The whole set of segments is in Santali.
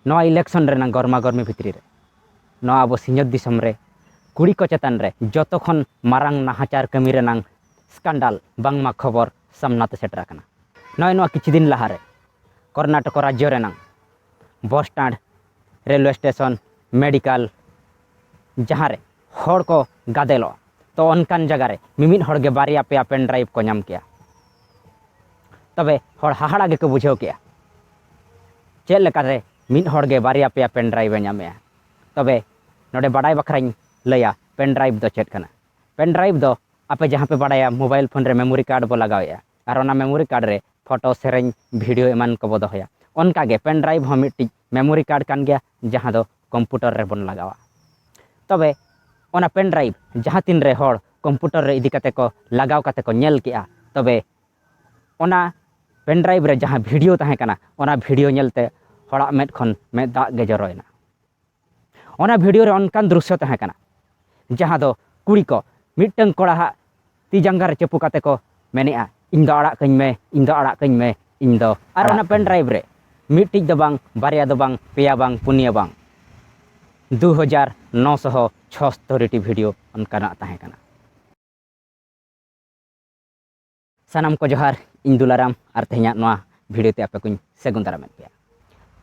ᱱᱚᱣᱟ ᱤᱞᱮᱠᱥᱚᱱ ᱨᱮᱱᱟᱜ ᱜᱚᱨᱢᱟ ᱜᱚᱨᱢᱤ ᱵᱷᱤᱛᱨᱤ ᱨᱮ ᱱᱚᱣᱟ ᱟᱵᱚ ᱥᱤᱧᱚᱛ ᱫᱤᱥᱚᱢ ᱨᱮ ᱠᱩᱲᱤ ᱠᱚ ᱪᱮᱛᱟᱱ ᱨᱮ ᱡᱚᱛᱚ ᱠᱷᱚᱱ ᱢᱟᱨᱟᱝ ᱱᱟᱦᱟᱪᱟᱨ ᱠᱟᱹᱢᱤ ᱨᱮᱱᱟᱜ ᱥᱠᱟᱱᱰᱟᱞ ᱵᱟᱝᱢᱟ ᱠᱷᱚᱵᱚᱨ ᱥᱟᱢᱱᱟ ᱛᱮ ᱥᱮᱴᱮᱨ ᱟᱠᱟᱱᱟ ᱱᱚᱜᱼᱚᱭ ᱱᱚᱣᱟ ᱠᱤᱪᱷᱩ ᱫᱤᱱ ᱞᱟᱦᱟ ᱨᱮ ᱠᱚᱨᱱᱟᱴᱚᱠ ᱨᱟᱡᱽᱡᱚ ᱨᱮᱱᱟᱜ bus stand railway station medical ᱡᱟᱦᱟᱸ ᱨᱮ ᱦᱚᱲ ᱠᱚ ᱜᱟᱫᱮᱞᱚᱜᱼᱟ ᱛᱚ ᱚᱱᱠᱟᱱ ᱡᱟᱭᱜᱟ ᱨᱮ ᱢᱤᱢᱤᱫ ᱦᱚᱲ ᱜᱮ ᱵᱟᱨᱭᱟ ᱯᱮᱭᱟ ᱯᱮᱱ ᱰᱨᱟᱭᱤᱵᱷ ᱠᱚ ᱧᱟᱢ ᱠᱮᱜᱼᱟ ᱛᱚᱵᱮ ᱦᱚᱲ ᱦᱟᱦᱟᱲᱟ ᱜᱮᱠᱚ ᱵᱩᱡᱷᱟᱹᱣ ᱠᱮᱜᱼᱟ ᱪᱮᱫ ᱞᱮᱠᱟᱨᱮ ᱢᱤᱫ ᱦᱚᱲ ᱜᱮ ᱵᱟᱨᱭᱟ ᱯᱮᱭᱟ ᱯᱮᱱ ᱰᱨᱟᱭᱤᱵᱷ ᱮ ᱧᱟᱢᱮᱜᱼᱟ ᱛᱚᱵᱮ ᱱᱚᱰᱮ ᱵᱟᱰᱟᱭ ᱵᱟᱠᱷᱨᱟᱧ ᱞᱟᱹᱭᱟ ᱯᱮᱱ ᱰᱨᱟᱭᱤᱵᱷ ᱫᱚ ᱪᱮᱫ ᱠᱟᱱᱟ ᱯᱮᱱ ᱰᱨᱟᱭᱤᱵᱷ ᱫᱚ ᱟᱯᱮ ᱡᱟᱦᱟᱸ ᱯᱮ ᱵᱟᱰᱟᱭᱟ ᱢᱳᱵᱟᱭᱤᱞ ᱯᱷᱳᱱ ᱨᱮ ᱢᱮᱢᱳᱨᱤ ᱠᱟᱨᱰ ᱵᱚ ᱞᱟᱜᱟᱣᱮᱜᱼᱟ ᱟᱨ ᱚᱱᱟ ᱢᱮᱢᱳᱨᱤ ᱠᱟᱨᱰ ᱨᱮ ᱯᱷᱳᱴᱳ ᱥᱮᱨᱮᱧ ᱵᱷᱤᱰᱤᱭᱳ ᱮᱢᱟᱱ ᱠᱚᱵᱚ ᱫᱚᱦᱚᱭᱟ ᱚᱱᱠᱟᱜᱮ ᱯᱮᱱ ᱰᱨᱟᱭᱤᱵᱷ ᱦᱚᱸ ᱢᱤᱫᱴᱤᱡ ᱢᱮᱢᱳᱨᱤ ᱠᱟᱨᱰ ᱠᱟᱱ ᱜᱮᱭᱟ ᱡᱟᱦᱟᱸ ᱫᱚ ᱠᱚᱢᱯᱩᱴᱚᱨ ᱨᱮᱵᱚᱱ ᱞᱟᱜᱟᱣᱟ ᱛᱚᱵᱮ ᱚᱱᱟ ᱯᱮᱱ ᱰᱨᱟᱭᱤᱵᱷ ᱡᱟᱦᱟᱸ ᱛᱤᱱ ᱨᱮ ᱦᱚᱲ ᱠᱚᱢᱯᱩᱴᱚᱨ ᱨᱮ ᱤᱫᱤ ᱠᱟᱛᱮ ᱠᱚ ᱞᱟᱜᱟᱣ ᱠᱟᱛᱮ ᱠᱚ ᱧᱮᱞ ᱠᱮᱜᱼᱟ ᱛᱚᱵᱮ ᱚᱱᱟ ᱯᱮᱱ ᱰᱨᱟᱭᱤᱵᱷ ᱨᱮ ᱡᱟᱦᱟᱸ ᱵᱷᱤᱰᱤᱭᱳ ᱛᱟᱦᱮᱸ ᱠᱟᱱᱟ ᱚᱱᱟ ᱵᱷᱤᱰᱤᱭᱳ ᱧᱮᱞᱛᱮ ᱦᱚᱲᱟᱜ ᱢᱮᱫ ᱠᱷᱚᱱ ᱢᱮᱫ ᱫᱟᱜ ᱜᱮ ᱡᱚᱨᱚᱭᱮᱱᱟ ᱚᱱᱟ ᱵᱷᱤᱰᱤᱭᱳ ᱨᱮ ᱚᱱᱠᱟᱱ ᱫᱨᱩᱥᱥᱚ ᱛᱟᱦᱮᱸ ᱠᱟᱱᱟ ᱡᱟᱦᱟᱸ ᱫᱚ ᱠᱩᱲᱤ ᱠᱚ ᱢᱤᱫᱴᱟᱝ ᱠᱚᱲᱟᱦᱟᱜ ᱛᱤ ᱡᱟᱸᱜᱟ ᱨᱮ ᱪᱟᱹᱯᱩ ᱠᱟᱛᱮ ᱠᱚ ᱢᱮᱱᱮᱜᱼᱟ ᱤᱧ ᱫᱚ ᱟᱲᱟᱜ ᱠᱟᱹᱧ ᱢᱮ ᱤᱧ ᱫᱚ ᱟᱲᱟᱜ ᱠᱟᱹᱧ ᱢᱮ ᱤᱧ ᱫᱚ ᱟᱨ ᱚᱱᱟ ᱯᱮᱱ ᱰᱨᱟᱭᱤᱵᱷ ᱨᱮ ᱢᱤᱫᱴᱤᱡ ᱫᱚ ᱵᱟᱝ ᱵᱟᱨᱭᱟ ᱫᱚ ᱵᱟᱝ ᱯᱮᱭᱟ ᱵᱟᱝ ᱯᱩᱱᱭᱟᱹ ᱵᱟᱝ ᱫᱩ ᱦᱟᱡᱟᱨ ᱱᱚ ᱥᱚ ᱪᱷᱚᱥᱛᱚᱨᱤᱴᱤ ᱵᱷᱤᱰᱤᱭᱳ ᱚᱱᱠᱟᱱᱟᱜ ᱛᱟᱦᱮᱸ ᱠᱟᱱᱟ ᱥᱟᱱᱟᱢ ᱠᱚ ᱡᱚᱦᱟᱨ ᱤᱧ ᱫᱩᱞᱟᱨᱟᱢ ᱟᱨ ᱛᱮᱦᱮᱧᱟᱜ ᱱᱚᱣᱟ ᱵᱷᱤᱰᱤᱭᱳ ᱛᱮ ᱟᱯᱮ ᱠᱚᱧ ᱥᱟᱹᱜᱩᱱ ᱫᱟᱨᱟᱢᱮᱫ ᱯᱮᱭᱟ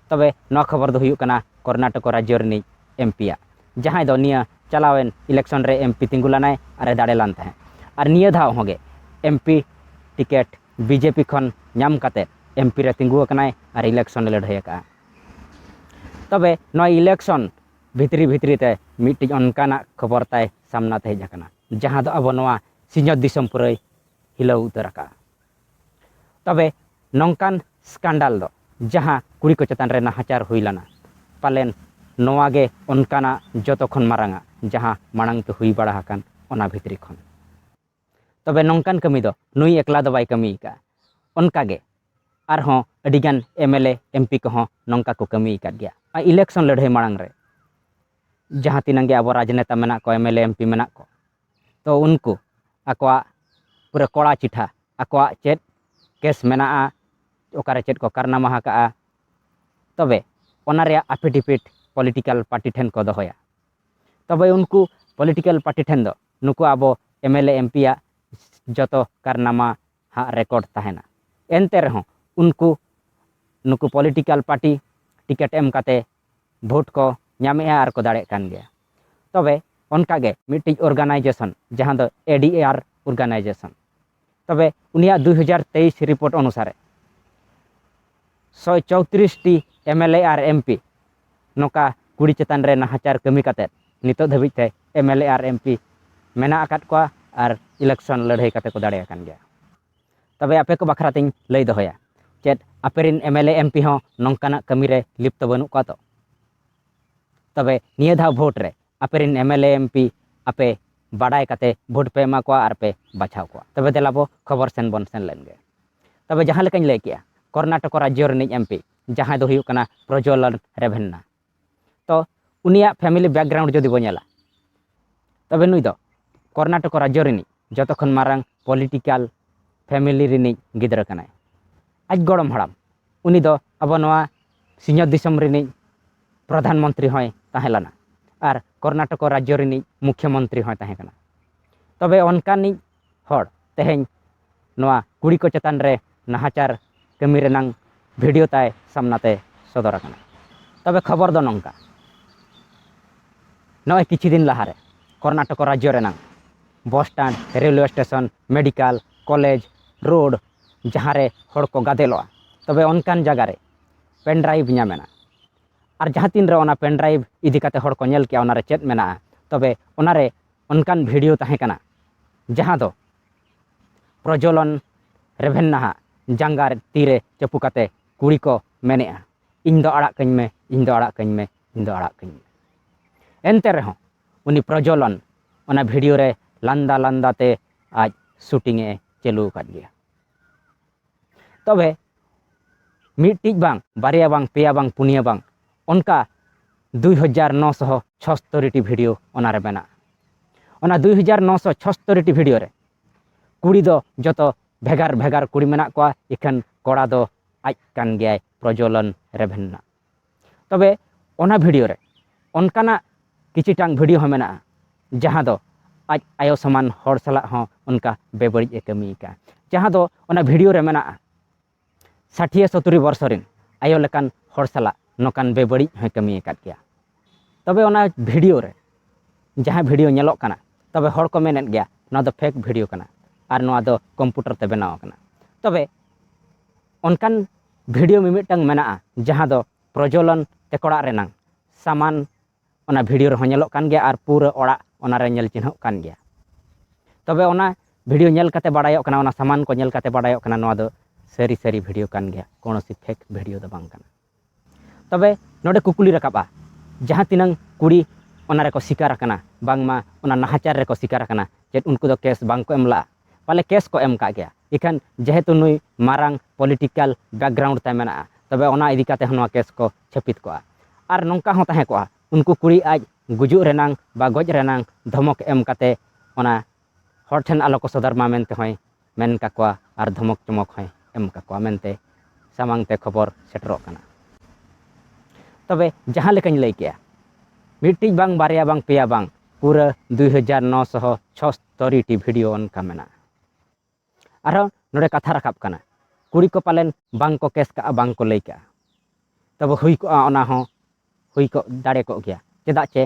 ᱛᱚᱵᱮ ᱱᱚᱣᱟ ᱠᱷᱚᱵᱚᱨ ᱫᱚ ᱦᱩᱭᱩᱜ ᱠᱟᱱᱟ ᱠᱚᱨᱱᱟᱴᱚᱠᱚ ᱨᱟᱡᱽᱡᱚ ᱨᱤᱱᱤᱡ ᱮᱢ ᱯᱤᱭᱟᱜ ᱡᱟᱦᱟᱸᱭ ᱫᱚ ᱱᱤᱭᱟᱹ ᱪᱟᱞᱟᱣᱮᱱ ᱤᱞᱮᱠᱥᱚᱱ ᱨᱮ ᱮᱢ ᱯᱤ ᱛᱤᱸᱜᱩ ᱞᱮᱱᱟᱭ ᱟᱨᱮ ᱫᱟᱲᱮ ᱞᱮᱱ ᱛᱟᱦᱮᱸᱫ ᱟᱨ ᱱᱤᱭᱟᱹ ᱫᱷᱟᱣ ᱦᱚᱸᱜᱮ M P ticket B J P ᱠᱷᱚᱱ ᱧᱟᱢ ᱠᱟᱛᱮᱫ ᱮᱢ ᱯᱤ ᱨᱮ ᱛᱤᱸᱜᱩ ᱟᱠᱟᱱᱟᱭ ᱟᱨ ᱤᱞᱮᱠᱥᱚᱱ ᱮ ᱞᱟᱹᱲᱦᱟᱹᱭ ᱟᱠᱟᱫᱼᱟ ᱛᱚᱵᱮ ᱱᱚᱣᱟ ᱤᱞᱮᱠᱥᱚᱱ ᱵᱷᱤᱛᱨᱤ ᱵᱷᱤᱛᱨᱤ ᱛᱮ ᱢᱤᱫᱴᱤᱡ ᱚᱱᱠᱟᱱᱟᱜ ᱠᱷᱚᱵᱚᱨ ᱛᱟᱭ ᱥᱟᱢᱱᱟ ᱛᱮ ᱦᱮᱡ ᱟᱠᱟᱱᱟ ᱡᱟᱦᱟᱸ ᱫᱚ ᱟᱵᱚ ᱱᱚᱣᱟ ᱥᱤᱧᱚᱛ ᱫᱤᱥᱚᱢ ᱯᱩᱨᱟᱹᱭ ᱦᱤᱞᱟᱹᱣ ᱩᱛᱟᱹᱨ ᱟᱠᱟᱫᱼᱟ ᱛᱚᱵᱮ ᱱᱚᱝᱠᱟᱱ ᱥᱠᱟᱱᱰᱟᱞ ᱫᱚ ᱡᱟᱦᱟᱸ ᱠᱩᱲᱤ ᱠᱚ ᱪᱮᱛᱟᱱ ᱨᱮ ᱱᱟᱦᱟᱪᱟᱨ ᱦᱩᱭ ᱞᱟᱱᱟ ᱯᱟᱞᱮᱱ ᱱᱚᱣᱟ ᱜᱮ ᱚᱱᱠᱟᱱᱟᱜ ᱡᱚᱛᱚ ᱠᱷᱚᱱ ᱢᱟᱨᱟᱝᱟ ᱡᱟᱦᱟᱸ ᱢᱟᱲᱟᱝ ᱛᱮ ᱦᱩᱭ ᱵᱟᱲᱟ ᱟᱠᱟᱱ ᱚᱱᱟ ᱵᱷᱤᱛᱨᱤ ᱠᱷᱚᱱ᱾ ᱛᱚᱵᱮ ᱱᱚᱝᱠᱟᱱ ᱠᱟᱹᱢᱤ ᱫᱚ ᱱᱩᱭ ᱮᱠᱞᱟ ᱫᱚ ᱵᱟᱭ ᱠᱟᱹᱢᱤ ᱟᱠᱟᱫᱼᱟ᱾ ᱚᱱᱠᱟ ᱜᱮ ᱟᱨ ᱦᱚᱸ ᱟᱹᱰᱤ ᱜᱟᱱ ᱮᱢᱮᱞᱮ ᱮᱢᱯᱤ ᱠᱚ ᱦᱚᱸ ᱱᱚᱝᱠᱟ ᱠᱚ ᱠᱟᱹᱢᱤ ᱟᱠᱟᱫ ᱜᱮᱭᱟ᱾ ᱱᱚᱣᱟ ᱤᱞᱮᱠᱥᱚᱱ ᱞᱟᱹᱲᱦᱟᱹᱭ ᱢᱟᱲᱟᱝ ᱨᱮ ᱡᱟᱦᱟᱸ ᱛᱤᱱᱟᱹᱝ ᱜᱮ ᱟᱵᱚ ᱨᱟᱡᱽᱱᱮᱛᱟ ᱢᱮᱱᱟᱜ ᱠᱚ ᱮᱢᱮᱞᱮ ᱮᱢᱯᱤ ᱢᱮᱱᱟᱜ ᱠᱚ᱾ ᱛᱚ ᱩᱱᱠᱩ ᱟᱠᱚᱣᱟᱜ ᱯᱩᱨᱟᱹ ᱠᱚᱲᱟ ᱪᱤᱴᱷᱟ ᱟᱠᱚᱣᱟᱜ ᱪᱮᱫ ᱠᱮᱥ ᱢᱮᱱᱟᱜᱼᱟ ᱚᱠᱟᱨᱮ ᱪᱮᱫ ᱠᱚ ᱠᱟᱨᱱᱟᱢᱟ ᱟᱠᱟᱜᱼᱟ ᱛᱚᱵᱮ ᱚᱱᱟ ᱨᱮᱭᱟᱜ ᱟᱯᱷᱤᱰᱤᱯᱤᱴ ᱯᱚᱞᱤᱴᱤᱠᱟᱞ ᱯᱟᱨᱴᱤ ᱴᱷᱮᱱ ᱠᱚ ᱫᱚᱦᱚᱭᱟ ᱛᱚᱵᱮ ᱩᱱᱠᱩ ᱯᱚᱞᱤᱴᱤᱠᱟᱞ ᱯᱟᱨᱴᱤ ᱴᱷᱮᱱ ᱫᱚ ᱱᱩᱠᱩ ᱟᱵᱚ ᱮᱢᱮᱞᱮ ᱮᱢᱯᱤᱭᱟᱜ ᱡᱚᱛᱚ ᱠᱟᱨᱱᱟᱢᱟ ᱦᱟᱜ ᱨᱮᱠᱚᱨᱰ ᱛᱟᱦᱮᱱᱟ᱾ ᱮᱱᱛᱮ ᱨᱮᱦᱚᱸ ᱩᱱᱠᱩ ᱱᱩᱠᱩ ᱯᱚᱞᱤᱴᱤᱠᱟᱞ ᱯᱟᱨᱴᱤ ᱴᱤᱠᱮᱴ ᱮᱢ ᱠᱟᱛᱮ ᱵᱷᱳᱴ ᱠᱚ ᱧᱟᱢᱮᱜᱼᱟ ᱟᱨ ᱠᱚ ᱫᱟᱲᱮᱜ ᱠᱟᱱ ᱜᱮᱭᱟ᱾ ᱛᱚᱵᱮ ᱚᱱᱠᱟ ᱜᱮ ᱢᱤᱫᱴᱤᱡ ᱚᱨᱜᱟᱱᱟᱭᱡᱮᱥᱚᱱ ᱡᱟᱦᱟᱸ ᱫᱚ ᱮᱰᱤᱮᱟᱨ ᱚᱨᱜᱟᱱᱟᱭᱡᱮᱥᱚᱱ ᱛᱚᱵᱮ ᱩᱱᱤᱭᱟᱜ ᱫᱩᱭ ᱦᱟᱡᱟᱨ ᱛᱮᱭᱤᱥ ᱨᱤᱯᱳᱨᱴ ᱚᱱᱩᱥᱟᱨᱮ, ᱥᱚᱭ ᱪᱚᱣᱛᱨᱤᱥ ᱴᱤ ᱮᱢ ᱮᱞ ᱮ ᱟᱨ ᱮᱢ ᱯᱤ ᱱᱚᱝᱠᱟ ᱠᱩᱲᱤ ᱪᱮᱛᱟᱱ ᱨᱮ ᱱᱟᱦᱟᱪᱟᱨ ᱠᱟᱹᱢᱤ ᱠᱟᱛᱮᱫ ᱱᱤᱛᱚᱜ ᱫᱷᱟᱹᱵᱤᱡ ᱛᱮ ᱮᱢ ᱮᱞ ᱮ ᱟᱨ ᱮᱢ ᱯᱤ ᱢᱮᱱᱟᱜ ᱟᱠᱟᱫ ᱠᱚᱣᱟ ᱟᱨ ᱤᱞᱮᱠᱥᱚᱱ ᱞᱟᱹᱲᱦᱟᱹᱭ ᱠᱟᱛᱮᱫ ᱠᱚ ᱫᱟᱲᱮ ᱟᱠᱟᱱ ᱜᱮᱭᱟ ᱛᱚᱵᱮ ᱟᱯᱮ ᱠᱚ ᱵᱟᱠᱷᱨᱟ ᱛᱤᱧ ᱞᱟᱹᱭ ᱫᱚᱦᱚᱭᱟ ᱪᱮᱫ ᱟᱯᱮ ᱨᱮᱱ M L A M P ᱦᱚᱸ ᱱᱚᱝᱠᱟᱱᱟᱜ ᱠᱟᱹᱢᱤ ᱨᱮ ᱞᱤᱯᱛᱚ ᱵᱟᱹᱱᱩᱜ ᱠᱚᱣᱟ ᱛᱚ ᱛᱚᱵᱮ ᱱᱤᱭᱟᱹ ᱫᱷᱟᱣ ᱵᱷᱳᱴ ᱨᱮ ᱟᱯᱮ ᱨᱮᱱ M L A M P ᱟᱯᱮ ᱵᱟᱰᱟᱭ ᱠᱟᱛᱮᱫ ᱵᱷᱳᱴ ᱯᱮ ᱮᱢᱟ ᱠᱚᱣᱟ ᱟᱨ ᱯᱮ ᱵᱟᱪᱷᱟᱣ ᱠᱚᱣᱟ ᱛᱚᱵᱮ ᱫᱮᱞᱟ ᱵᱚ ᱠᱷᱚᱵᱚᱨ ᱥᱮᱱ ᱵᱚᱱ ᱥᱮᱱ ᱞᱮᱱ ᱜᱮ ᱛᱚᱵᱮ ᱡᱟᱦᱟᱸ ᱞᱮᱠᱟᱧ ᱞᱟᱹᱭ ᱠᱮᱜᱼᱟ ᱠᱚᱨᱱᱟᱴᱚᱠ ᱨᱟᱡᱽᱡᱚ ᱨᱤᱱᱤᱡ ᱮᱢᱯᱤ ᱡᱟᱦᱟᱸᱭ ᱫᱚ ᱦᱩᱭᱩᱜ ᱠᱟᱱᱟ ᱯᱨᱚᱡᱚᱞᱚᱱ ᱨᱮᱵᱷᱮᱱᱱᱟ ᱛᱚ ᱩᱱᱤᱭᱟᱜ ᱯᱷᱮᱢᱤᱞᱤ ᱵᱮᱠᱜᱨᱟᱣᱩᱱᱰ ᱡᱩᱫᱤ ᱵᱚ ᱧᱮᱞᱟ ᱛᱚᱵᱮ ᱱᱩᱭ ᱫᱚ ᱠᱚᱨᱱᱟᱴᱚᱠ ᱨᱟᱡᱽᱡᱚ ᱨᱤᱱᱤᱡ ᱡᱚᱛᱚ ᱠᱷᱚᱱ ᱢᱟᱨᱟᱝ ᱯᱚᱞᱤᱴᱤᱠᱟᱞ ᱯᱷᱮᱢᱤᱞᱤ ᱨᱤᱱᱤᱡ ᱜᱤᱫᱽᱨᱟᱹ ᱠᱟᱱᱟᱭ ᱟᱡ ᱜᱚᱲᱚᱢ ᱦᱟᱲᱟᱢ ᱩᱱᱤ ᱫᱚ ᱟᱵᱚ ᱱᱚᱣᱟ ᱥᱤᱧᱚᱛ ᱫᱤᱥᱚᱢ ᱨᱤᱱᱤᱡ ᱯᱨᱚᱫᱷᱟᱱ ᱢᱚᱱᱛᱨᱤ ᱦᱚᱸᱭ ᱛᱟᱦᱮᱸ ᱞᱮᱱᱟ ᱟᱨ ᱠᱚᱨᱱᱟᱴᱚᱠ ᱨᱟᱡᱽᱡᱚ ᱨᱤᱱᱤᱡ ᱢᱩᱠᱷᱭᱚ ᱢᱚᱱᱛᱨᱤ ᱦᱚᱸᱭ ᱛᱟᱦᱮᱸ ᱠᱟᱱᱟ ᱛᱚᱵᱮ ᱚᱱᱠᱟᱱᱤᱡ ᱦᱚᱲ ᱛᱮᱦᱮᱧ ᱱᱚᱣᱟ ᱠᱩᱲᱤ ᱠᱚ ᱪᱮᱛᱟᱱ ᱨᱮ ᱱᱟᱦᱟᱪᱟᱨ ᱠᱟᱹᱢᱤ ᱨᱮᱱᱟᱝ ᱵᱷᱤᱰᱤᱭᱳ ᱛᱟᱭ ᱥᱟᱢᱱᱟ ᱛᱮ ᱥᱚᱫᱚᱨ ᱟᱠᱟᱱᱟ ᱛᱚᱵᱮ ᱠᱷᱚᱵᱚᱨ ᱫᱚ ᱱᱚᱝᱠᱟ ᱱᱚᱜᱼᱚᱭ ᱠᱤᱪᱷᱩ ᱫᱤᱱ ᱞᱟᱦᱟᱨᱮ ᱠᱚᱨᱱᱟᱴᱚᱠ ᱨᱟᱡᱽᱡᱚ ᱨᱮᱱᱟᱝ bus stand railway station medical college road ᱡᱟᱦᱟᱸᱨᱮ ᱦᱚᱲ ᱠᱚ ᱜᱟᱫᱮᱞᱚᱜᱼᱟ ᱛᱚᱵᱮ ᱚᱱᱠᱟᱱ ᱡᱟᱭᱜᱟ ᱨᱮ ᱯᱮᱱ ᱰᱨᱟᱭᱤᱵᱷ ᱧᱟᱢᱮᱱᱟ ᱟᱨ ᱡᱟᱦᱟᱸ ᱛᱤᱱ ᱨᱮ ᱚᱱᱟ ᱯᱮᱱ ᱰᱨᱟᱭᱤᱵᱷ ᱤᱫᱤ ᱠᱟᱛᱮᱫ ᱦᱚᱲ ᱠᱚ ᱧᱮᱞ ᱠᱮᱜᱼᱟ ᱚᱱᱟᱨᱮ ᱪᱮᱫ ᱢᱮᱱᱟᱜᱼᱟ ᱛᱚᱵᱮ ᱚᱱᱟᱨᱮ ᱚᱱᱠᱟᱱ ᱵᱷᱤᱰᱤᱭᱳ ᱛᱟᱦᱮᱸ ᱠᱟᱱᱟ ᱡᱟᱦᱟᱸ ᱫᱚ ᱯᱨᱚᱡᱚᱞᱚᱱ ᱨᱮᱵᱷᱮᱱᱱᱟᱦᱟᱜ ᱡᱟᱸᱜᱟ ᱛᱤᱨᱮ ᱪᱟᱹᱯᱩ ᱠᱟᱛᱮ ᱠᱩᱲᱤ ᱠᱚ ᱢᱮᱱᱮᱜᱼᱟ ᱤᱧ ᱫᱚ ᱟᱲᱟᱜ ᱠᱟᱹᱧ ᱢᱮ ᱤᱧ ᱫᱚ ᱟᱲᱟᱜ ᱠᱟᱹᱧ ᱢᱮ ᱤᱧ ᱫᱚ ᱟᱲᱟᱜ ᱠᱟᱹᱧ ᱢᱮ ᱮᱱᱛᱮ ᱨᱮᱦᱚᱸ ᱩᱱᱤ ᱯᱨᱚᱡᱚᱞᱚᱱ ᱚᱱᱟ ᱵᱷᱤᱰᱤᱭᱳ ᱨᱮ ᱞᱟᱸᱫᱟ ᱞᱟᱸᱫᱟ ᱛᱮ ᱟᱡ ᱥᱩᱴᱤᱝ ᱮ ᱪᱟᱹᱞᱩ ᱟᱠᱟᱫ ᱜᱮᱭᱟ ᱛᱚᱵᱮ ᱢᱤᱫᱴᱤᱡ ᱵᱟᱝ ᱵᱟᱨᱭᱟ ᱵᱟᱝ ᱯᱮᱭᱟ ᱵᱟᱝ ᱯᱩᱱᱭᱟᱹ ᱵᱟᱝ ᱚᱱᱠᱟ ᱫᱩᱭ ᱦᱟᱡᱟᱨ ᱱᱚ ᱥᱚ ᱪᱷᱚᱥᱛᱚᱨᱤᱴᱤ ᱵᱷᱤᱰᱤᱭᱳ ᱚᱱᱟᱨᱮ ᱢᱮᱱᱟᱜᱼᱟ ᱚᱱᱟ ᱫᱩᱭ ᱦᱟᱡᱟᱨ ᱱᱚ ᱥᱚ ᱪᱷᱚᱥᱛᱚᱨᱤᱴᱤ ᱵᱷᱤᱰᱤᱭᱳ ᱨᱮ ᱠᱩᱲᱤ ᱫᱚ ᱡᱚᱛᱚ ᱵᱷᱮᱜᱟᱨ ᱵᱷᱮᱜᱟᱨ ᱠᱩᱲᱤ ᱢᱮᱱᱟᱜ ᱠᱚᱣᱟ ᱤᱠᱷᱟᱹᱱ ᱠᱚᱲᱟ ᱫᱚ ᱟᱡ ᱠᱟᱱ ᱜᱮᱭᱟᱭ ᱯᱨᱚᱡᱚᱞᱚᱱ ᱨᱮᱵᱷᱮᱱᱱᱟ ᱛᱚᱵᱮ ᱚᱱᱟ ᱵᱷᱤᱰᱤᱭᱳ ᱨᱮ ᱚᱱᱠᱟᱱᱟᱜ ᱠᱤᱪᱷᱤᱴᱟᱝ ᱵᱷᱤᱰᱤᱭᱳ ᱦᱚᱸ ᱢᱮᱱᱟᱜᱼᱟ ᱡᱟᱦᱟᱸ ᱫᱚ ᱟᱡ ᱟᱭᱳ ᱥᱚᱢᱟᱱ ᱦᱚᱲ ᱥᱟᱞᱟᱜ ᱦᱚᱸ ᱚᱱᱠᱟ ᱵᱮᱵᱟᱹᱲᱤᱡ ᱮ ᱠᱟᱹᱢᱤ ᱟᱠᱟᱫᱼᱟ ᱡᱟᱦᱟᱸ ᱫᱚ ᱚᱱᱟ ᱵᱷᱤᱰᱤᱭᱳ ᱨᱮ ᱢᱮᱱᱟᱜᱼᱟ ᱥᱟᱴᱷᱤᱭᱟᱹ ᱥᱚᱛᱩᱨᱤ ᱵᱚᱨᱥᱚ ᱨᱮᱱ ᱟᱭᱳ ᱞᱮᱠᱟᱱ ᱦᱚᱲ ᱥᱟᱞᱟᱜ ᱱᱚᱝᱠᱟᱱ ᱵᱮᱵᱟᱹᱲᱤᱡ ᱦᱚᱸᱭ ᱠᱟᱹᱢᱤ ᱟᱠᱟᱫ ᱜᱮᱭᱟ ᱛᱚᱵᱮ ᱚᱱᱟ ᱵᱷᱤᱰᱤᱭᱳ ᱨᱮ ᱡᱟᱦᱟᱸ ᱵᱷᱤᱰᱤᱭᱳ ᱧᱮᱞᱚᱜ ᱠᱟᱱᱟ ᱛᱚᱵᱮ ᱦᱚᱲ ᱠᱚ ᱢᱮᱱᱮᱫ ᱜᱮᱭᱟ ᱱᱚᱣᱟ ᱫᱚ ᱯᱷᱮᱠ ᱵᱷᱤᱰᱤᱭᱳ ᱠᱟᱱᱟ ᱟᱨ ᱱᱚᱣᱟ ᱫᱚ ᱠᱚᱢᱯᱩᱴᱟᱨ ᱛᱮ ᱵᱮᱱᱟᱣ ᱟᱠᱟᱱᱟ ᱛᱚᱵᱮ ᱚᱱᱠᱟᱱ ᱵᱷᱤᱰᱤᱭᱳ ᱢᱤᱢᱤᱫᱴᱟᱝ ᱢᱮᱱᱟᱜᱼᱟ ᱡᱟᱦᱟᱸ ᱫᱚ ᱯᱨᱚᱡᱚᱞᱚᱱ ᱛᱮᱠᱚᱲᱟ ᱨᱮᱱᱟᱝ ᱥᱟᱢᱟᱱ ᱚᱱᱟ ᱵᱷᱤᱰᱤᱭᱳ ᱨᱮᱦᱚᱸ ᱧᱮᱞᱚᱜ ᱠᱟᱱ ᱜᱮᱭᱟ ᱟᱨ ᱯᱩᱨᱟᱹ ᱚᱲᱟᱜ ᱚᱱᱟᱨᱮ ᱧᱮᱞ ᱪᱤᱱᱦᱟᱹᱜ ᱠᱟᱱ ᱜᱮᱭᱟ ᱛᱚᱵᱮ ᱚᱱᱟ ᱵᱷᱤᱰᱤᱭᱳ ᱧᱮᱞ ᱠᱟᱛᱮ ᱵᱟᱲᱟᱭᱚᱜ ᱠᱟᱱᱟ ᱚᱱᱟ ᱥᱟᱢᱟᱱ ᱠᱚ ᱧᱮᱞ ᱠᱟᱛᱮ ᱵᱟᱲᱟᱭᱚᱜ ᱠᱟᱱᱟ ᱱᱚᱣᱟ ᱫᱚ ᱥᱟᱹᱨᱤ ᱥᱟᱹᱨᱤ ᱵᱷᱤᱰᱤᱭᱳ ᱠᱟᱱ ᱜᱮᱭᱟ ᱠᱳᱱᱳ ᱥᱮ ᱯᱷᱮᱠ ᱵᱷᱤᱰᱤᱭᱳ ᱫᱚ ᱵᱟᱝ ᱠᱟᱱᱟ ᱛᱚᱵᱮ ᱱᱚᱰᱮ ᱠᱩᱠᱞᱤ ᱨᱟᱠᱟᱵᱼᱟ ᱡᱟᱦᱟᱸ ᱛᱤᱱᱟᱹᱝ ᱠᱩᱲᱤ ᱚᱱᱟ ᱨᱮᱠᱚ ᱥᱤᱠᱟᱨ ᱟᱠᱟᱱᱟ ᱵᱟᱝᱢᱟ ᱚᱱᱟ ᱱᱟᱦᱟᱪᱟᱨ ᱨᱮᱠᱚ ᱥᱤᱠᱟᱨ ᱟᱠᱟᱱᱟ ᱪᱮᱫ ᱩᱱᱠᱩ ᱫᱚ ᱠᱮᱥ ᱵᱟᱝ ᱠᱚ ᱮᱢ ᱞᱟᱜᱼᱟ ᱯᱟᱞᱮ ᱠᱮᱥ ᱠᱚ ᱮᱢ ᱠᱟᱜ ᱜᱮᱭᱟ ᱤᱠᱷᱟᱱ ᱡᱮᱦᱮᱛᱩ ᱱᱩᱭ ᱢᱟᱨᱟᱝ ᱯᱚᱞᱤᱴᱤᱠᱟᱞ ᱵᱮᱠᱜᱨᱟᱣᱩᱱᱰ ᱛᱟᱭ ᱢᱮᱱᱟᱜᱼᱟ ᱛᱚᱵᱮ ᱚᱱᱟ ᱤᱫᱤ ᱠᱟᱛᱮ ᱦᱚᱸ ᱱᱚᱣᱟ ᱠᱮᱥ ᱠᱚ ᱪᱷᱟᱹᱯᱤᱛ ᱠᱚᱜᱼᱟ ᱟᱨ ᱱᱚᱝᱠᱟ ᱦᱚᱸ ᱛᱟᱦᱮᱸ ᱠᱚᱜᱼᱟ ᱩᱱᱠᱩ ᱠᱩᱲᱤ ᱟᱡ ᱜᱩᱡᱩᱜ ᱨᱮᱱᱟᱝ ᱵᱟ ᱜᱚᱡ ᱨᱮᱱᱟᱝ ᱫᱷᱚᱢᱚᱠ ᱮᱢ ᱠᱟᱛᱮ ᱚᱱᱟ ᱦᱚᱲ ᱴᱷᱮᱱ ᱟᱞᱚ ᱠᱚ ᱥᱚᱫᱚᱨ ᱢᱟ ᱢᱮᱱᱛᱮ ᱦᱚᱸᱭ ᱢᱮᱱ ᱠᱟᱠᱚᱣᱟ ᱟᱨ ᱫᱷᱚᱢᱚᱠ ᱪᱚᱢᱚᱠ ᱦᱚᱸᱭ ᱮᱢ ᱠᱟᱠᱚᱣᱟ ᱢᱮᱱᱛᱮ ᱥᱟᱢᱟᱝ ᱛᱮ ᱠᱷᱚᱵᱚᱨ ᱥᱮᱴᱮᱨᱚᱜ ᱠᱟᱱᱟ ᱛᱚᱵᱮ ᱡᱟᱦᱟᱸ ᱞᱮᱠᱟᱧ ᱞᱟᱹᱭ ᱠᱮᱜᱼᱟ ᱢᱤᱫᱴᱤᱡ ᱵᱟᱝ ᱵᱟᱨᱭᱟ ᱵᱟᱝ ᱯᱮᱭᱟ ᱵᱟᱝ ᱯᱩᱨᱟᱹ ᱫᱩᱭ ᱦᱟᱡᱟᱨ ᱱᱚ ᱥᱚ ᱪᱷᱚᱥᱛᱚᱨᱤ ᱴᱤ ᱵᱷᱤᱰᱤᱭᱳ ᱚᱱᱠᱟ ᱢᱮᱱᱟᱜᱼᱟ ᱟᱨᱦᱚᱸ ᱱᱚᱰᱮ ᱠᱟᱛᱷᱟ ᱨᱟᱠᱟᱵ ᱠᱟᱱᱟ ᱠᱩᱲᱤ ᱠᱚ ᱯᱟᱞᱮᱱ ᱵᱟᱝ ᱠᱚ ᱠᱮᱥ ᱠᱟᱜᱼᱟ ᱵᱟᱝ ᱠᱚ ᱞᱟᱹᱭ ᱠᱟᱜᱼᱟ ᱛᱚᱵᱮ ᱦᱩᱭ ᱠᱚᱜᱼᱟ ᱚᱱᱟ ᱦᱚᱸ ᱦᱩᱭ ᱠᱚᱜ ᱫᱟᱲᱮ ᱠᱚᱜ ᱜᱮᱭᱟ ᱪᱮᱫᱟᱜ ᱪᱮ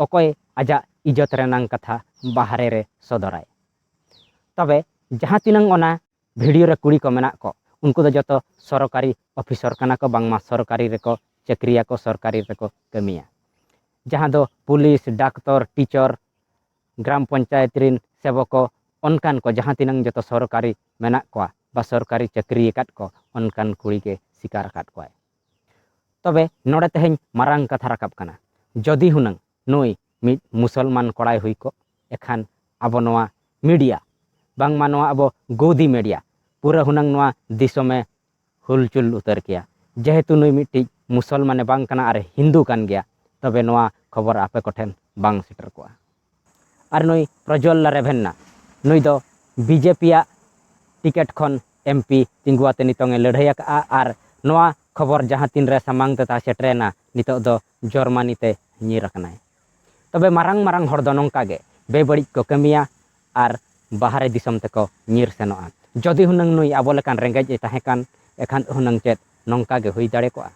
ᱚᱠᱚᱭ ᱟᱡᱟᱜ ᱤᱡᱚᱛ ᱨᱮᱱᱟᱝ ᱠᱟᱛᱷᱟ ᱵᱟᱦᱨᱮ ᱨᱮ ᱥᱚᱫᱚᱨᱟᱭ ᱛᱚᱵᱮ ᱡᱟᱦᱟᱸ ᱛᱤᱱᱟᱹᱝ ᱚᱱᱟ ᱵᱷᱤᱰᱤᱭᱳ ᱨᱮ ᱠᱩᱲᱤ ᱠᱚ ᱢᱮᱱᱟᱜ ᱠᱚ ᱩᱱᱠᱩ ᱫᱚ ᱡᱚᱛᱚ ᱥᱚᱨᱠᱟᱨᱤ ᱚᱯᱷᱤᱥᱚᱨ ᱠᱟᱱᱟ ᱠᱚ ᱵᱟᱝᱢᱟ ᱥᱚᱨᱠᱟᱨᱤ ᱨᱮᱠᱚ ᱪᱟᱹᱠᱨᱤᱭᱟᱠᱚ ᱥᱚᱨᱠᱟᱨᱤ ᱨᱮᱠᱚ ᱠᱟᱹᱢᱤᱭᱟ ᱡᱟᱦᱟᱸ ᱫᱚ ᱯᱩᱞᱤᱥ ᱰᱟᱠᱛᱚᱨ ᱴᱤᱪᱚᱨ ᱜᱨᱟᱢ ᱯᱚᱧᱪᱟᱭᱮᱛ ᱨᱤᱱ ᱥᱮᱵᱚᱠᱚ ᱚᱱᱠᱟᱱ ᱠᱚ ᱡᱟᱦᱟᱸ ᱛᱤᱱᱟᱹᱝ ᱡᱚᱛᱚ ᱥᱚᱨᱠᱟᱨᱤ ᱢᱮᱱᱟᱜ ᱠᱚᱣᱟ ᱵᱟ ᱥᱚᱨᱠᱟᱨᱤ ᱪᱟᱹᱠᱨᱤ ᱟᱠᱟᱫ ᱠᱚ ᱚᱱᱠᱟᱱ ᱠᱩᱲᱤ ᱜᱮ ᱥᱤᱠᱟᱨ ᱟᱠᱟᱫ ᱠᱚᱣᱟᱭ ᱛᱚᱵᱮ ᱱᱚᱰᱮ ᱛᱮᱦᱮᱧ ᱢᱟᱨᱟᱝ ᱠᱟᱛᱷᱟ ᱨᱟᱠᱟᱵ ᱠᱟᱱᱟ ᱡᱚᱫᱤ ᱦᱩᱱᱟᱹᱝ ᱱᱩᱭ ᱢᱤᱫ ᱢᱩᱥᱚᱞᱢᱟᱱ ᱠᱚᱲᱟᱭ ᱦᱩᱭ ᱠᱚᱜ ᱮᱠᱷᱟᱱ ᱟᱵᱚ ᱱᱚᱣᱟ ᱢᱤᱰᱤᱭᱟ ᱵᱟᱝᱢᱟ ᱱᱚᱣᱟ ᱟᱵᱚ ᱜᱳᱫᱤ ᱢᱤᱰᱤᱭᱟ ᱯᱩᱨᱟᱹ ᱦᱩᱱᱟᱹᱝ ᱱᱚᱣᱟ ᱫᱤᱥᱚᱢᱮ ᱦᱩᱞᱪᱩᱞ ᱩᱛᱟᱹᱨ ᱠᱮᱭᱟ ᱡᱮᱦᱮᱛᱩ ᱱᱩᱭ ᱢᱤᱫᱴᱤᱡ ᱢᱩᱥᱚᱞᱢᱟᱱ ᱮ ᱵᱟᱝ ᱠᱟᱱᱟ ᱟᱨ ᱮ ᱦᱤᱱᱫᱩ ᱠᱟᱱ ᱜᱮᱭᱟ ᱛᱚᱵᱮ ᱱᱚᱣᱟ ᱠᱷᱚᱵᱚᱨ ᱟᱯᱮ ᱠᱚ ᱴᱷᱮᱱ ᱵᱟᱝ ᱥᱮᱴᱮᱨ ᱠᱚᱜᱼᱟ ᱟᱨ ᱱᱩᱭ ᱯᱨᱚᱡᱚᱞᱞᱟ ᱨᱮᱵᱷᱮᱱᱱᱟ ᱱᱩᱭ ᱫᱚ ᱵᱤᱡᱮᱯᱤ ᱟᱜ ᱴᱤᱠᱮᱴ ᱠᱷᱚᱱ ᱮᱢᱯᱤ ᱛᱤᱸᱜᱩ ᱟᱛᱮ ᱱᱤᱛᱚᱝ ᱮ ᱞᱟᱹᱲᱦᱟᱹᱭ ᱟᱠᱟᱫᱼᱟ ᱟᱨ ᱱᱚᱣᱟ ᱠᱷᱚᱵᱚᱨ ᱡᱟᱦᱟᱸ ᱛᱤᱱ ᱨᱮ ᱥᱟᱢᱟᱝ ᱛᱮ ᱛᱟᱦᱮᱸ ᱥᱮᱴᱮᱨᱮᱱᱟ ᱱᱤᱛᱚᱜ ᱫᱚ ᱡᱚᱨᱢᱟᱱᱤ ᱛᱮ ᱧᱤᱨ ᱟᱠᱟᱱᱟᱭ᱾ ᱛᱚᱵᱮ ᱢᱟᱨᱟᱝ ᱢᱟᱨᱟᱝ ᱦᱚᱲ ᱫᱚ ᱱᱚᱝᱠᱟ ᱜᱮ ᱵᱮᱵᱟᱹᱲᱤᱡ ᱠᱚ ᱠᱟᱹᱢᱤᱭᱟ ᱟᱨ ᱵᱟᱦᱨᱮ ᱫᱤᱥᱚᱢ ᱛᱮᱠᱚ ᱧᱤᱨ ᱥᱮᱱᱚᱜᱼᱟ᱾ ᱡᱚᱫᱤ ᱦᱩᱱᱟᱹᱝ ᱱᱩᱭ ᱟᱵᱚ ᱞᱮᱠᱟᱱ ᱨᱮᱸᱜᱮᱡ ᱮ ᱛᱟᱦᱮᱸ ᱠᱟᱱ ᱮᱠᱷᱟᱱ ᱦᱩᱱᱟᱹᱝ ᱪᱮᱫ ᱱᱚᱝᱠᱟ ᱜᱮ ᱦᱩᱭ ᱫᱟᱲᱮ ᱠᱚᱜᱼᱟ?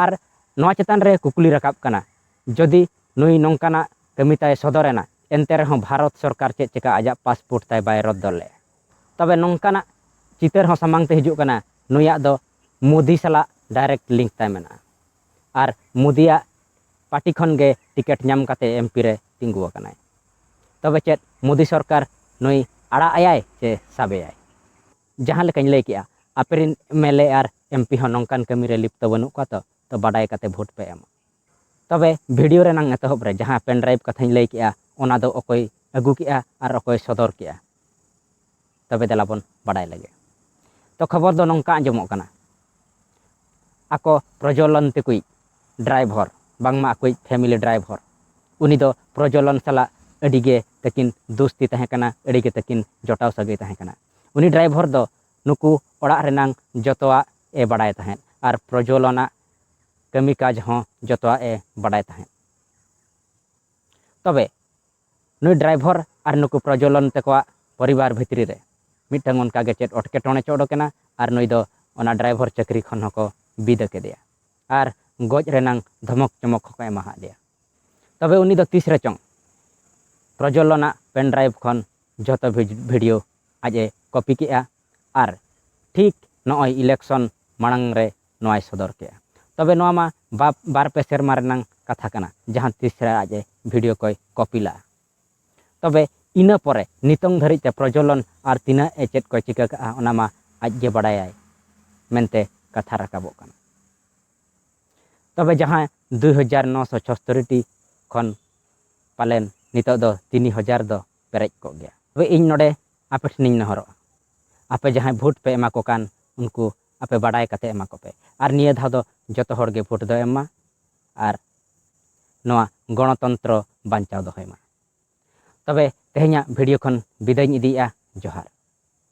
ᱟᱨ ᱱᱚᱶᱟ ᱪᱮᱛᱟᱱ ᱨᱮ ᱠᱩᱠᱞᱤ ᱨᱟᱠᱟᱵ ᱠᱟᱱᱟ ᱡᱚᱫᱤ ᱱᱩᱭ ᱱᱚᱝᱠᱟᱱᱟᱜ ᱠᱟᱹᱢᱤ ᱛᱟᱭ ᱥᱚᱫᱚᱨ ᱮᱱᱟ ᱮᱱᱛᱮ ᱨᱮᱦᱚᱸ ᱵᱷᱟᱨᱚᱛ ᱥᱚᱨᱠᱟᱨ ᱪᱮᱫ ᱪᱮᱠᱟ ᱟᱡᱟᱜ ᱯᱟᱥᱯᱳᱨᱴ ᱛᱟᱭ ᱵᱟᱭ ᱨᱚᱫᱽᱫᱚ ᱞᱮᱫᱼᱟ? ᱛᱚᱵᱮ ᱱᱚᱝᱠᱟᱱᱟᱜ ᱪᱤᱛᱟᱹᱨ ᱦᱚᱸ ᱥᱟᱢᱟᱝ ᱛᱮ ᱦᱤᱡᱩᱜ ᱠᱟᱱᱟ ᱱᱩᱭᱟᱜ ᱫᱚ ᱢᱳᱫᱤ ᱥᱟᱞᱟᱜ ᱰᱟᱭᱨᱮᱠᱴ ᱞᱤᱝᱠ ᱛᱟᱭ ᱢᱮᱱᱟᱜᱼᱟ᱾ ᱟᱨ ᱢᱳᱫᱤᱭᱟᱜ ᱯᱟᱨᱴᱤ ᱠᱷᱚᱱ ᱜᱮ ᱴᱤᱠᱮᱴ ᱧᱟᱢ ᱠᱟᱛᱮ ᱮᱢᱯᱤ ᱨᱮ ᱛᱤᱸᱜᱩ ᱟᱠᱟᱱᱟᱭ᱾ ᱛᱚᱵᱮ ᱪᱮᱫ ᱢᱳᱫᱤ ᱥᱚᱨᱠᱟᱨ ᱱᱩᱭ ᱟᱲᱟᱜ ᱟᱭᱟᱭ ᱪᱮ ᱥᱟᱵᱮᱭᱟᱭ? ᱡᱟᱦᱟᱸ ᱞᱮᱠᱟᱧ ᱞᱟᱹᱭ ᱠᱮᱫᱼᱟ, ᱟᱯᱮ ᱨᱤᱱ ᱮᱢᱮᱞᱮ ᱟᱨ ᱮᱢᱯᱤ ᱦᱚᱸ ᱱᱚᱝᱠᱟᱱ ᱠᱟᱹᱢᱤ ᱨᱮ ᱞᱤᱯᱛᱚ ᱵᱟᱹᱱᱩᱜ ᱠᱚᱣᱟ ᱛᱚ, ᱛᱚ ᱵᱟᱰᱟᱭ ᱠᱟᱛᱮ ᱵᱷᱳᱴ ᱯᱮ ᱮᱢᱟ᱾ ᱛᱚᱵᱮ ᱵᱷᱤᱰᱤᱭᱳ ᱨᱮᱱᱟᱜ ᱮᱛᱚᱦᱚᱵ ᱨᱮ ᱡᱟᱦᱟᱸ ᱯᱮᱱᱰᱨᱟᱭᱤᱵᱽ ᱠᱟᱛᱷᱟᱧ ᱞᱟᱹᱭ ᱠᱮᱫᱼᱟ, ᱚᱱᱟ ᱫᱚ ᱚᱠᱚᱭ ᱟᱹᱜᱩ ᱠᱮᱫᱼᱟ ᱟᱨ ᱚᱠᱚᱭ ᱥᱚᱫᱚᱨ ᱠᱮᱫᱼᱟ? ᱛᱚᱵᱮ ᱫᱮᱞᱟ ᱵᱚᱱ ᱵᱟᱰᱟᱭ ᱞᱮᱜᱮ᱾ ᱛᱚ ᱠᱷᱚᱵᱚᱨ ᱫᱚ ᱱᱚᱝᱠᱟ ᱟᱸᱡᱚᱢᱚᱜ ᱠᱟᱱᱟ ᱟᱠᱚ ᱯᱨᱚᱡᱚᱞᱚᱱ ᱛᱮᱠᱩᱭᱤᱡ ᱰᱨᱟᱭᱵᱷᱚᱨ ᱵᱟᱝᱢᱟ ᱟᱠᱚᱭᱤᱡ ᱯᱷᱮᱢᱤᱞᱤ ᱰᱨᱟᱭᱵᱷᱚᱨ ᱩᱱᱤ ᱫᱚ ᱯᱨᱚᱡᱚᱞᱚᱱ ᱥᱟᱞᱟᱜ ᱟᱹᱰᱤ ᱜᱮ ᱛᱟᱹᱠᱤᱱ ᱫᱩᱥᱛᱤ ᱛᱟᱦᱮᱸ ᱠᱟᱱᱟ ᱟᱹᱰᱤ ᱜᱮ ᱛᱟᱹᱠᱤᱱ ᱡᱚᱴᱟᱣ ᱥᱟᱹᱜᱟᱹᱭ ᱛᱟᱦᱮᱸ ᱠᱟᱱᱟ᱾ ᱩᱱᱤ ᱰᱨᱟᱭᱵᱷᱚᱨ ᱫᱚ ᱱᱩᱠᱩ ᱚᱲᱟᱜ ᱨᱮᱱᱟᱝ ᱡᱚᱛᱚᱣᱟᱜ ᱮ ᱵᱟᱰᱟᱭ ᱛᱟᱦᱮᱸᱫ ᱟᱨ ᱯᱨᱚᱡᱚᱞᱚᱱ ᱟᱜ ᱠᱟᱹᱢᱤ ᱠᱟᱡᱽ ᱦᱚᱸ ᱡᱚᱛᱚᱣᱟᱜ ᱮ ᱵᱟᱰᱟᱭ ᱛᱟᱦᱮᱸᱫ᱾ ᱛᱚᱵᱮ ᱱᱩᱭ ᱰᱨᱟᱭᱵᱷᱚᱨ ᱟᱨ ᱱᱩᱠᱩ ᱯᱨᱚᱡᱚᱞᱚᱱ ᱛᱮᱠᱚᱣᱟᱜ ᱯᱚᱨᱤᱵᱟᱨ ᱵᱷᱤᱛᱨᱤ ᱨᱮ ᱢᱤᱫᱴᱟᱹᱝ ᱚᱱᱠᱟ ᱜᱮ ᱪᱮᱫ ᱚᱴᱠᱮᱴᱚᱬᱮ ᱪᱚ ᱚᱰᱚᱠ ᱮᱱᱟ ᱟᱨ ᱱᱩᱭ ᱫᱚ ᱚᱱᱟ ᱰᱨᱟᱭᱵᱷᱚᱨ ᱪᱟᱹᱠᱨᱤ ᱠᱷᱚᱱ ᱦᱚᱸ ᱠᱚ ᱵᱤᱫᱟᱹ ᱠᱮᱫᱮᱭᱟ ᱟᱨ ᱜᱚᱡ ᱨᱮᱱᱟᱝ ᱫᱷᱚᱢᱚᱠ ᱪᱚᱢᱚᱠ ᱦᱚᱸ ᱠᱚ ᱮᱢᱟ ᱦᱟᱫ ᱫᱮᱭᱟ᱾ ᱛᱚᱵᱮ ᱩᱱᱤ ᱫᱚ ᱛᱤᱥ ᱨᱮᱪᱚᱝ ᱯᱨᱚᱡᱚᱞᱚᱱ ᱟᱜ ᱯᱮᱱᱰᱨᱟᱭᱤᱵᱷ ᱠᱷᱚᱱ ᱡᱚᱛᱚ ᱵᱷᱤᱰᱤᱭᱳ ᱟᱡ ᱮ ᱠᱚᱯᱤ ᱠᱮᱫᱼᱟ ᱟᱨ ᱴᱷᱤᱠ ᱱᱚᱜᱼᱚᱭ ᱤᱞᱮᱠᱥᱚᱱ ᱢᱟᱬᱟᱝ ᱨᱮ ᱱᱚᱣᱟᱭ ᱥᱚᱫᱚᱨ ᱠᱮᱫᱼᱟ᱾ ᱛᱚᱵᱮ ᱱᱚᱣᱟ ᱢᱟ ᱵᱟᱯ ᱵᱟᱨ ᱯᱮ ᱥᱮᱨᱢᱟ ᱨᱮᱱᱟᱝ ᱠᱟᱛᱷᱟ ᱠᱟᱱᱟ ᱡᱟᱦᱟᱸ ᱛᱤᱥ ᱨᱮ ᱟᱡ ᱮ ᱵᱷᱤᱰᱤᱭᱳ ᱠᱚᱭ ᱠᱚᱯᱤ ᱞᱟᱜᱼᱟ᱾ ᱛᱚᱵᱮ ᱤᱱᱟᱹ ᱯᱚᱨᱮ ᱱᱤᱛᱚᱝ ᱫᱷᱟᱹᱨᱤᱡ ᱛᱮ ᱯᱨᱚᱡᱚᱞᱚᱱ ᱟᱨ ᱛᱤᱱᱟᱹᱜ ᱮ ᱪᱮᱫ ᱠᱚᱭ ᱪᱤᱠᱟᱹ ᱠᱟᱜᱼᱟ ᱚᱱᱟ ᱢᱟ ᱟᱡ ᱜᱮ ᱵᱟᱰᱟᱭᱟᱭ ᱢᱮᱱᱛᱮ ᱠᱟᱛᱷᱟ ᱨᱟᱠᱟᱵᱚᱜ ᱠᱟᱱᱟ᱾ ᱛᱚᱵᱮ ᱡᱟᱦᱟᱸ ᱫᱩᱭ ᱦᱟᱡᱟᱨ ᱱᱚ ᱥᱚ ᱪᱷᱚᱥᱛᱚᱨᱤ ᱴᱤ ᱠᱷᱚᱱ ᱯᱟᱞᱮᱱ ᱱᱤᱛᱚᱜ ᱫᱚ ᱛᱤᱱᱤ ᱦᱟᱡᱟᱨ ᱫᱚ ᱯᱮᱨᱮᱡ ᱠᱚᱜ ᱜᱮᱭᱟ᱾ ᱛᱚᱵᱮ ᱤᱧ ᱱᱚᱰᱮ ᱟᱯᱮ ᱴᱷᱮᱱᱤᱧ ᱱᱮᱦᱚᱨᱚᱜᱼᱟ ᱟᱯᱮ ᱡᱟᱦᱟᱸᱭ ᱵᱷᱩᱴ ᱯᱮ ᱮᱢᱟ ᱠᱚ ᱠᱟᱱ ᱩᱱᱠᱩ ᱟᱯᱮ ᱵᱟᱰᱟᱭ ᱠᱟᱛᱮ ᱮᱢᱟ ᱠᱚᱯᱮ ᱟᱨ ᱱᱤᱭᱟᱹ ᱫᱷᱟᱣ ᱫᱚ ᱡᱚᱛᱚ ᱦᱚᱲ ᱜᱮ ᱵᱷᱳᱴ ᱫᱚ ᱮᱢ ᱢᱟ ᱟᱨ ᱱᱚᱣᱟ ᱜᱚᱬᱚᱛᱚᱱᱛᱨᱚ ᱵᱟᱧᱪᱟᱣ ᱫᱚᱦᱚᱭ ᱢᱟ ᱛᱚᱵᱮ ᱛᱮᱦᱮᱧᱟᱜ ᱵᱷᱤᱰᱤᱭᱳ ᱠᱷᱚᱱ ᱵᱤᱫᱟᱹᱭ ᱤᱧ ᱤᱫᱤᱭᱮᱜᱼᱟ ᱡᱚᱦᱟᱨ᱾